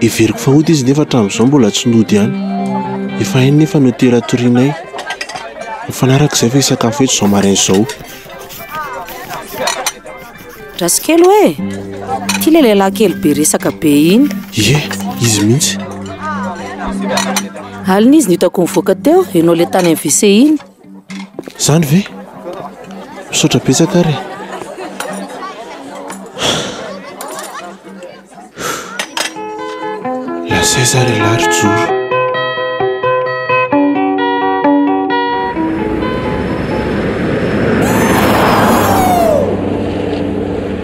Heveriko fa hody izy nefa hatramin'izao mbola tsy nody ihany. Efa hainy nefa ny hotely hatorianay. Mifanaraka izay fa hisakafo eto izao maraina izao. Rasikely hoe, ity ilay lehilahy kely be resaka be iny. Ie, izy mihitsy. Alina izy no hitako nivoaka teo, ianao ilay tany amin'ny WC iny. Zany ve? Misaotra betsaka ary e. Lazaiza ary ialahy ry Joro.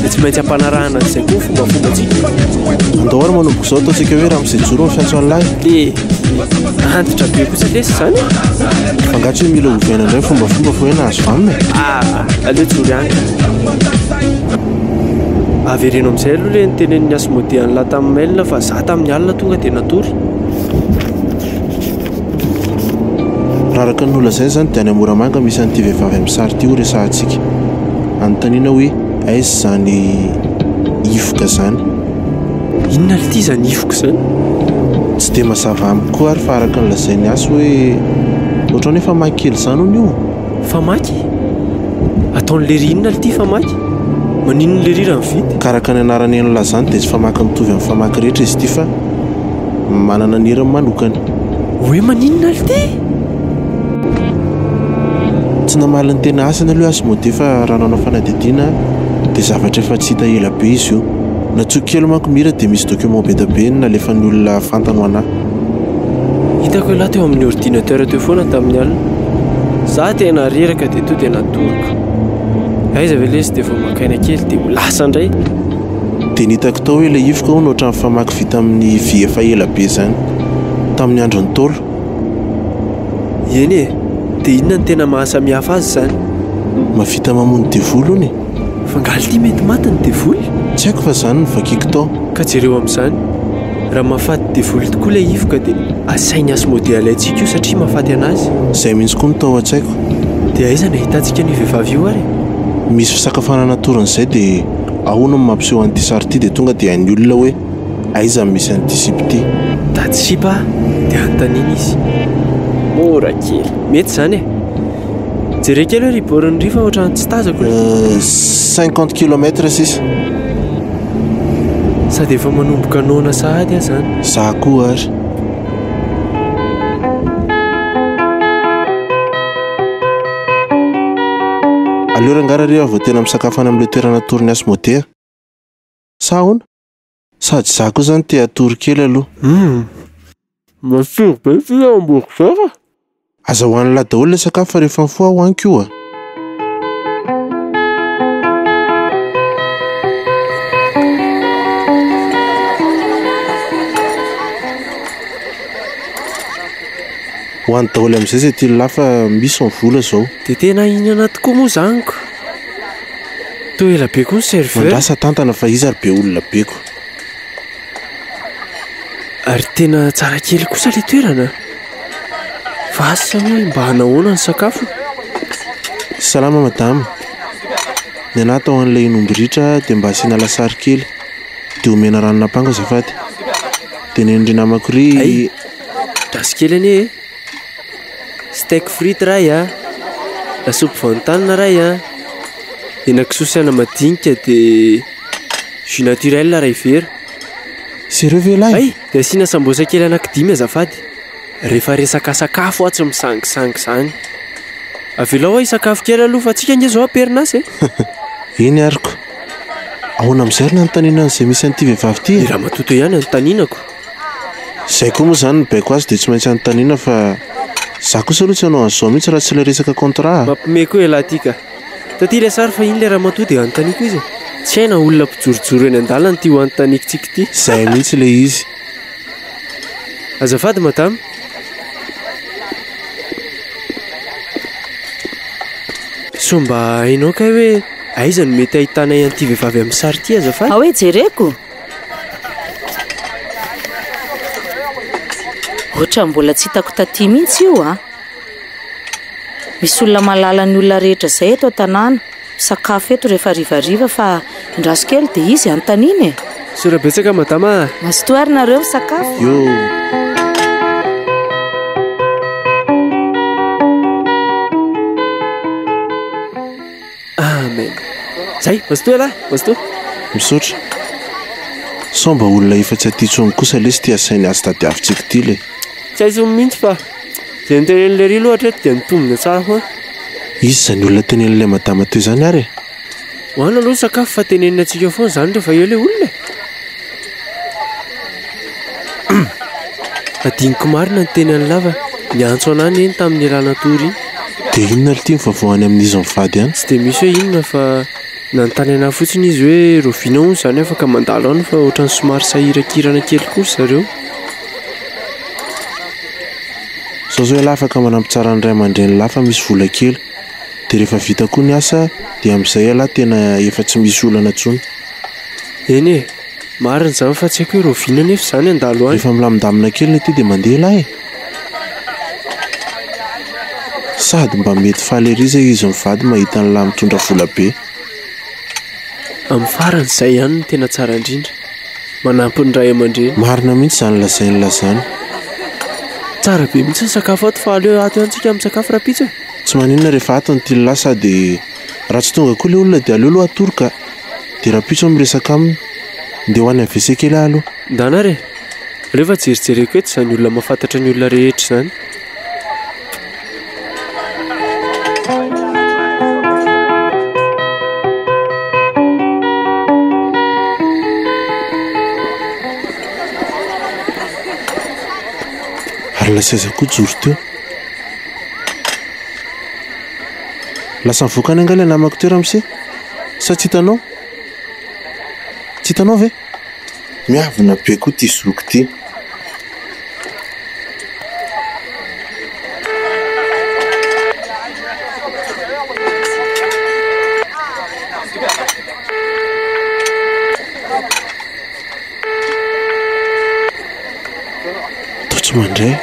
dia tsy maintsy ampanarahana an'izay koa fombafombantsika andao ary manomboka izao ataontsika hoe ramose joro ny fiantsoan'ny lahy dia antitra be kosa lesy izany fangatso hoe mila ovaina indray fombafomba fa hoe nahazo vanina ah aleo joro ihany avereno amin'izay aloha le nitenen'ny asmodean'la tamin'ny mail fa za tamin'ny alina tonga dia natory Raha araka ny nolazaina izany dia any Moramanga misy an'ity vehivavy amin'ny sary ity ho resahantsika. Anontaniana hoe aiza izany hifoka izany. Inona ary ity izany hifoka izany? Tsy dia mazava amiko koa ary fa araka ny lazain'i Asy hoe ohatrany hoe famaky kely izany hono io. Famaky? Ataon'i Lery inona ary ity famaky? Maninona i Lery raha mividy? Ka araka ny anaran'iny làlana izany dia tsy famaky mitovy amin'ny famaky rehetra izy ity fa. manana ny heriny manokana. Hoe maninona alo ty? Tsy namaly ny tena asany aloha i Asmodee fa raha nanao fanadihadiana dia zavatra efa tsy hita ela be izy io. Natsoiko kely manko ny hira dia misy document be dia be nalefan'ny olona fantany ho anà. Hitako ialahy teo amin'ny ordinateur teo foana tamin'ny alina. Za tena reraka dia tonga dia natoroko. Aiza ve lesy dia vao maka aina kely dia ho lasa indray. dia nitako tao hoe ilay ivoka hono ohatran'ny famaky vita amin'ny vy efa ela be izany, tamin'ny andron'ny Ntaolo. Eny e! Dia inona no tena mahasamihafa azy izany? Mahavita mamono devoly hono e! Fa angaha ity mety maty ny devoly? Tsy haiko fa izany no vakiko tao. Ka jereo amin'izany, raha mahafaty devoly tokoa ilay ivoka dia asainy Asmodea alaintsika io satria mahafaty an'azy. Izay mihitsy koa no tao an-tsaiko. Dia aiza no ahitantsika an'io vehivavy io ary? Misy fisakafoanana torin'izay dia. Ahoana no mampiseho an'ity sary ity dia tonga dia hain'ny olona hoe aiza no misy an'ity sipa ity. Mitady sipa dia anontaniana izy. Mora kely. Mety izany e. Jereo kely hoe ry born ry fa ohatran'ny tsy tazako ilay. Cinquante kilomètre sisa. Sady efa manomboka noana sahady aho izany. Za koa ary. Aleo rangara re aho vao tena misakafo any amin'ilay toerana atoron'i Asmodee a! Sa ahoana? Sady izaho koa izany te hatory kely aloha. Humm! Matsiro be ity hamburger a! Aza ho an'i Lah daholo ilay sakafo fa rehefa mifoha aho hohaniko io a! Ho any daholo amin'izay izay tian'ny lahy fa misy ny vola izao. Dia tena hihinana tokoa moa izany ko. Toa ela be koa ny serveur. Mandrasa tantana fa iza ary be olona be ko. Ary tena tsara kely kosa ilay toerana. Fa asa hoe mba hanao ahoana ny sakafo? Salama madama. Ny anah atao an'ilay hen'omby ritra dia mba asiana lasary kely. Dia omena ranon'apango azafady. Dia nen'ny ry namako ry. Hay, Gasy kely anie e. Steak frite ray a. Lasopy voantanina ray a. Henakisoa sy ana madinika de jus naturel ray vera. Sérieux ve lahy? Hay, de asiana sambosa kely anakidimy azafady. Rehefa resaka sakafo aho tsy misangisangy izany. Avelao aho hisakafo kely aloha fa antsika ange izao am-perinasa e. Eny aroko. Ahoana amin'izay ary nanontaniana an'izay misy an'ity vehivavy ity e? I ramatoa teo ihany no nanontanianako. Izay koa moa izany ny baiko azy dia tsy maintsy anontaniana fa za kosa aloha tsy hanao an'izao mihitsy raha tsy ilay resaka contrat a! Mampime koa ialahy ity ka! Taty ilay sary fa iny ilay ramatoa dia anontaniako izy e! Tsy hay na olona mpijorojoro eny an-dalana ity ho anontaniako tsiky ity. Izay mihitsy ilay izy. Azafady madama. Sao mba hainao kay hoe aiza no mety hahitanay an'ity vehivavy amin'ny sary ity azafady? Ao e, jereko. Ohatran'ny mbola tsy hitako taty mihitsy io ah. Misy olona mahalala ny olona rehetra izay eto an-tanàna. Sakafo eto rehefa rivariva fa indraso kely dia izy antanina e. Sora betsaka madama. Mazotoa ary nareo misakafo. Yo. Amen. Zay, Pasteur lahy, Pasteur. Misaotra. Sao mba olona efa tsy aty intsony kosa lesy ity asainy azy tadiavintsika ity le. Tsy hay intsony mihitsy fa izay notenenin'i Lery lohatra eto dia nitombina tsara foana. Izy izany olona tenenin'ilay madama teo izany ary e. Ho any aloha ny sakafo fa tenenina antsika foana izany rehefa eo ilay olona e. Adinoko marina ny teny an'i Lava. Niantso anah neny tamin'ny rà natory iny. Dia inona lty ny vaovao any amin'izy mivady any? Tsy dia misy hoe inona fa nanontany anah fotsiny izy hoe roviana hono izany afaka mandalo any fa ohatran'ny somary sahirakirana kely koa ry zareo. Sao zao ialahy afaka manampy tsara an'ny ray aman-dren'i lahy fa misy vola kely. Dia rehefa vita koa ny asa dia amin'izay ialahy tena efa tsy misy olana intsony. Eny e, marina izany fa tsy haiko hoe rahoviana anefa izany handalo any. Rehefa milamindamina kely ilay tia dia mandeha ialahy e. Sady mba mety faly ery izay izy mivady mahita an'ilahy mitondra vola be. Amin'ny farany izay ihany no tena tsara indrindra. Manampy ny ray aman-dreny. Marina mihitsy izany lazain'la izany. Tsara be mihitsy ny sakafo ato fa aleo ato ihany tsika misakafo rahampitso e. Tsy maninona rehefa ato ny tian'ilahy sady raha tsy tonga koa ilay olona dia aleo aloha atoroka. Dia rahampitso aho miresaka aminy. Ndeha ho any amin'ny WC kely aho aloha. Ndana re! Aleo fa jerijereko eto izany olona mahafantatra ny olona rehetra izany. Ary ilay seza koa joro teo. Lasa nivoaka any angaha ilay namako teo ramose? Sa tsy hitanao? Tsy hitanao ve? Miavona be koa ty zoky ty. Totsy mandray.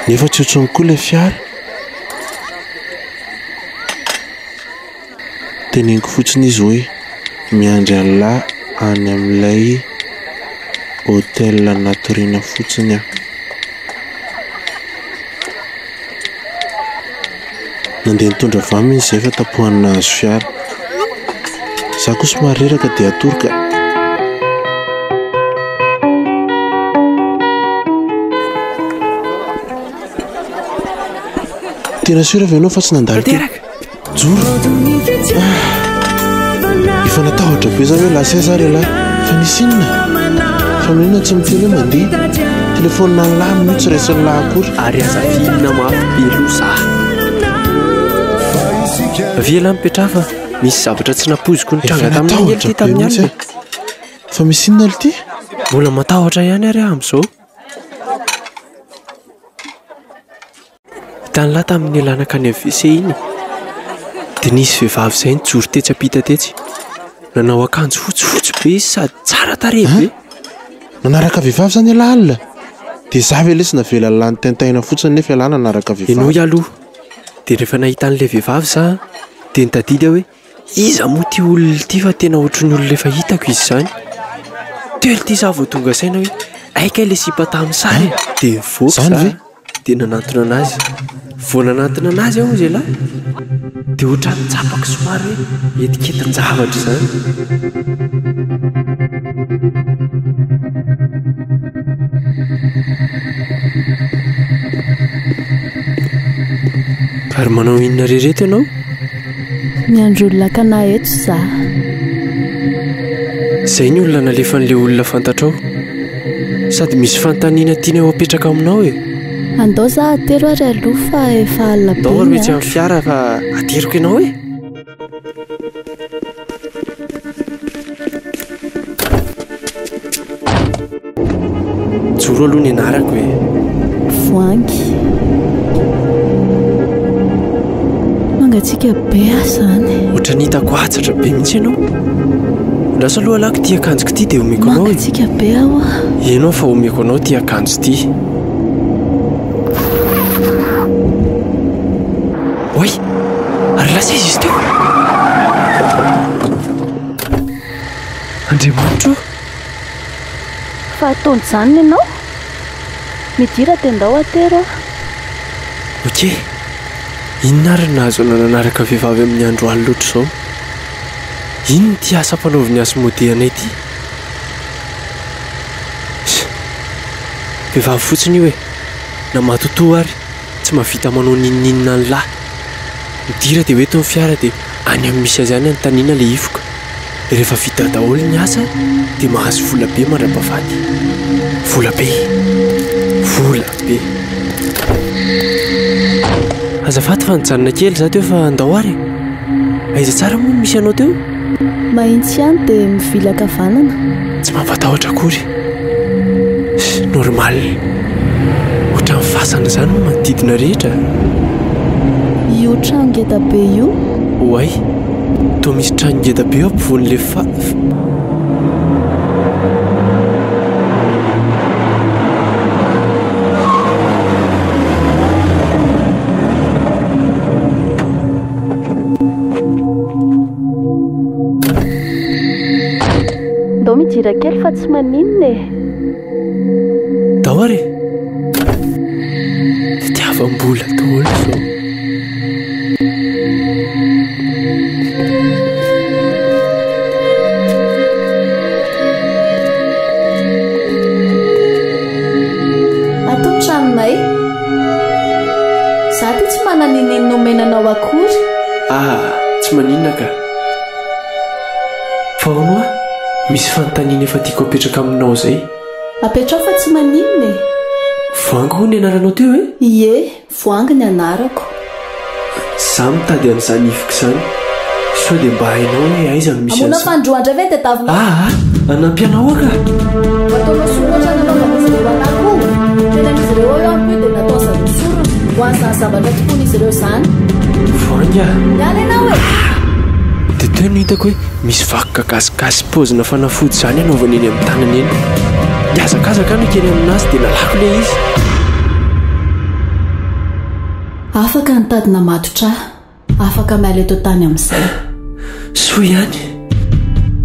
Nefa tsy otrony koa ilay fiara. Teneniko fotsiny izy hoe miandry an'lah any amin'ilay hotel natoriana fotsiny aho. Nandeha nitondra vam izy izay fa tapohany nahazo fiara. Za koa somary reraka dia hatory ka. Tena sûr avy ianao fa tsy nandalo teo. Tanteraka. Joro. Ah. Efa natahotra be za hoe lasa aiza ary lahy. Fa nisy inona? Fa maninona tsy miteny hoe mandeha? Téléphone an'i lahy minio tsy raisin'i lahy akory. Ary aza finina mafy be loza. Avia lahy mipetraha fa misy zavatra tsy nampoiziko nitranga tamin'ny alina ity tamin'ny alina. Fa misy inona aloha ity? Mbola matahotra ihany ary aho amin'izao. Tany lahy tamin'ny lanakany AVC iny dia nisy vehivavy izay nijoro tetsy ampita tetsy. Nanao akanjo fotsifotsy be izy sady tsara tarehy be. Nanaraka vehivavy izany ialahy alina? Dia izaho ve lesy navela lany tentaina fotsiny nefa ialahy nanaraka vehivavy? Ianao ialahy aloha. Dia rehefa nahita an'ilay vehivavy izaho dia nitadidy aho hoe Iza moa ity olona ity fa tena ohatran'ny olona efa hitako izy izany. Teo ry ity za vao tonga saina hoe hay kay ilay sipa tamin'ny sary e! Dia nivoaka za dia nanantona an'azy. Vao nanantona an'azy aho hoy zialahy dia ohatran'ny nitsapako somary hoe etiketin-javatra izany. Ary manao inona re ireto ianao? Miandry olona akana eto za. Zay ny olona nalefan'le olona fantatrao. Sady misy fanontaniana tiany ho apetraka aminao e. Andao za atero ary aloha fa efa alina be ny andro. Andao ary etsy amin'ny fiara fa ateriko ianao e. Joro aloha ny anarako e. Voangy. Mangatsiaka be aho izany. Ohatran'ny hitako hatsatra be mihitsy ianao. Lasa aloha lako ity akanjoko ity dia omeko anao. Mangatsiaka be aho. Ianao fa omeko anao ity akanjo ity. Oy, ary lasa izy izy teo. Andriamanitro. Fa ataon'izany ianao? Midira dia ndao atero aho. Ok. Inona ary no nahazoana nanaraka vehivavy amin'ny andro alina ohatr'izao? Inona ity asa ampanaovin'i Asmodee anay ity? Vehivavy fotsiny io e! Na matotoa ary. Tsy mahavita manao n'inon'inona ny lahy. Midira dia ho eto ny fiara dia any amin'ny misy azy any anontaniana ilay hifoka. Rehefa vita daholo ny asa dia mahazo vola be mandra-pahafaty. Vola be! Vola be! Azafady fa nijanona kely izaho teo fa ndao ary e! Aiza tsara moa no misy anao teo? Mahitsy ihany dia mivilaka vanana. Tsy mampatahotra akory. Normal. Ohatran'ny fasana izany ny manodidina rehetra a! Io trano ngeda be io? Oay! Toa misy trano ngeda be eo ampovoan'ilay fa. Ndao midira kely fa tsy maninona e. Ndao ary e. Fitiavam-bola daholo izao. Ato ny tranonay. Za ty tsy manana inenina omena anao akory. Ah, tsy maninona ka. Fa hono hoa misy fanontaniana efa tiako apetraka aminao izay. Apetraho fa tsy maninona e! Voangy hono ny anaranao teo e? Ie, Voangy ny anarako. Za mitady an'izany ivoko izany. Sao dia mba hainao hoe aiza no misy an'izany. Hamono ampandroa indray ve ny tadiavina? Ah ah! Hanampy anao aho ka! Ataonao sorona ohatrany nanaovan'izy ireo an'ahy koa. Tenen'izy ireo ao io amiko io dia nataon'zareo sorona. Ho an'izany zavatra tokoan'izy ireo izany. Zany? Voahangy ah! Miala ianao e! Dia teo no hitako hoe misy vakoka gasigasy paozina fanafody izany anaovany eny amin'ny tanany eny. Nihazakazaka aho nikely aminazy dia nalako ilay izy. Afaka nitady namatotra ahy. Afaka miala eto an-tany amin'izay. Soa ihany.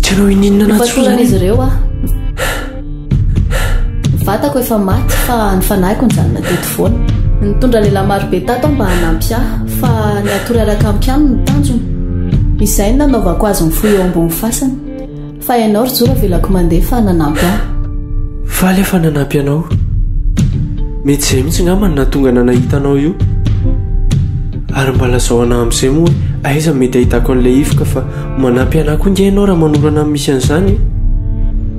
Tena hoy n'inona na tsy hoy ireo aho. Vatako efa maty fa ny fanahiko ny zanona teto foana. Nitondra lehilahy marobe tato mba hanampy ahy fa ny hatory araka ampy aminy ny tanjony. Izay ny nanaovako azy mifoha eo ambony fasana. Fa ianao ry Joro avelako mandeha fa nanampy ahy. Faly aho fa nanampy anao. Mety izay mihitsy ngamba no nahatonga ana nahita anao io. Ary mba lazao ana amin'izay moa hoe aiza no mety ahitako an'ilay hifoka fa Manampy anah koa nge ianao raha manorana amin'ny misy an'izany.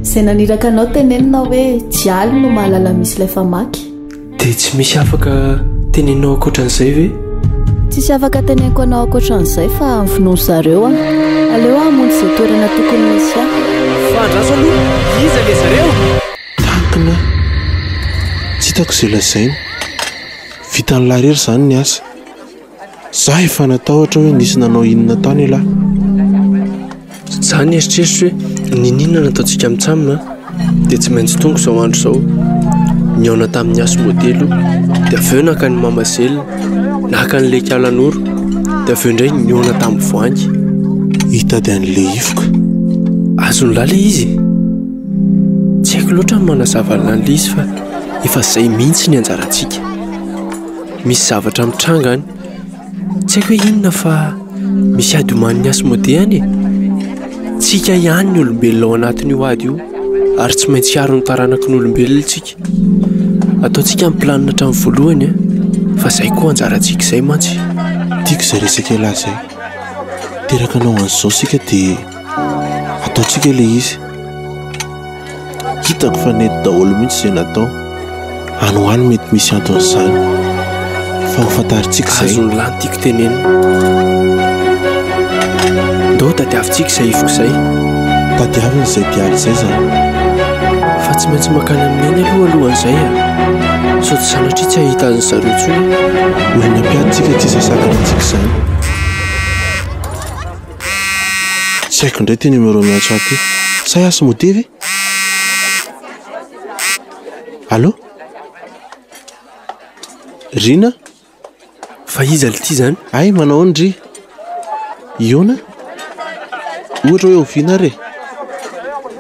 Izay naniraka anao tenenina hoe jialy no mahalala misy ilay famaky. Dia tsy misy afaka teneninao ankoatran'izay ve? Tsisy afaka teneniko anao ankoatran'izay fa amin'ny finoany zareo aho. Aleo aho hamonjy izay toerana tokony hisy ahy. Fahandraso aloha, iza ilay zareo? Takona aho. Tsy hitako izay lazainy. Vitan'i Larery izany ny asa. Za efa natahotra hoe nisy nanao inona tany elah. Za nieritreritra hoe niniana nataontsika mitsam a! Dia tsy maintsy tonga izao andro izao. Nihaona tamin'ny hasy modely o! Dia avy eo naka ny mamazelle, naka ny leki alan'oro, dia avy eo indray nihaona tamin'ny voangy. Hitady an'i Lehifoka. Azon'lah le izy e! Tsy haiko loatra ny manazava an'lah le izy fa efa zay mihitsy ny anjarantsika. Misy zavatra mitranga any. Tsy haiko hoe inona fa misy ady omanin'i Asmodee any e! Tsika ihany ny olombelona ao anatin'io ady io ary tsy maintsy hiaro ny taranaky ny olombelona isika. Ataontsika ny planina hatramin'ny voalohany an! Fa izay koa anjarantsika izay mantsy. Tiako izay resaka ialahy izay. Teraka anao an'izao isika dia ataontsika ilay izy. Hitako fa nety daholo mihitsy izay natao. Any ho any mety misy anton'izany. Fa hofantarintsika izay. Azon'ny lahy ny tiako tenenina. Ndao tadiavintsika izay ifiko izay. Tadiavina izay mpiala izay izany. Fa tsy maintsy mankany amin'ny ainy aloha alohan'izay a. Ah. Sao tsy sanatria tsy hahita azy ny zareo intsony. Maina mpiady tsika tsy izay sakana antsika izany. Tsy haiko indray ity numéro an'i Antso ity. Sa i Asmodee ve? Allo? Rina? Fa iza ity izany? Hay manao ahoana ry? Iona? Ohatra hoe oviana ary e?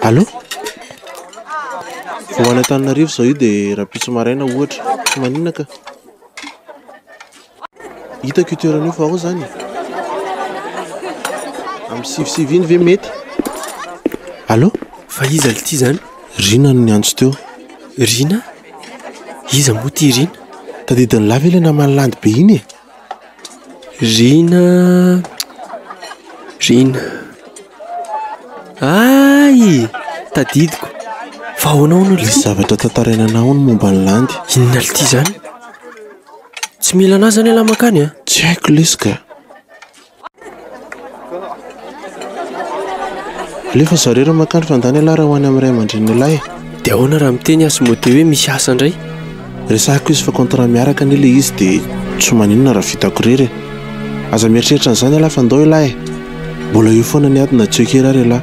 Allo? Vao any Antananarivo izao io dia rahampitso maraina ohatra. Tsy maninona ka. Hitako io toerana io fa ao zany. Amin'ny sivisivy iny ve mety? Allo? Fa iza ity zany? Rina no niantso teo. Rina? Iza moa ity Rina? Tadidin'i Lava ilay naman'i Landy be iny e. Rina. Rina. Ay! Tadidiko. Fa ahoana hono ity? Misy zavatra tantaraina anao hono momba an'i Landy. Inona ity zany? Tsy mila anah zany elah mankany a! Tsy haiko lesy ka! Alefa zareo raha mankany fandany elah raha ho any amin'ny ray aman-drenin'elah e! De ahoana raha miteny aho sy mody hoe misy asa ndray? Resahiko izy fa contrat miaraka anie le izy de tsy maninona raha vitako irery e! Aza mieritreritra an'izany elah fa ndao elah e! Mbola eo foana ny ady na tsy eo akery ary elah!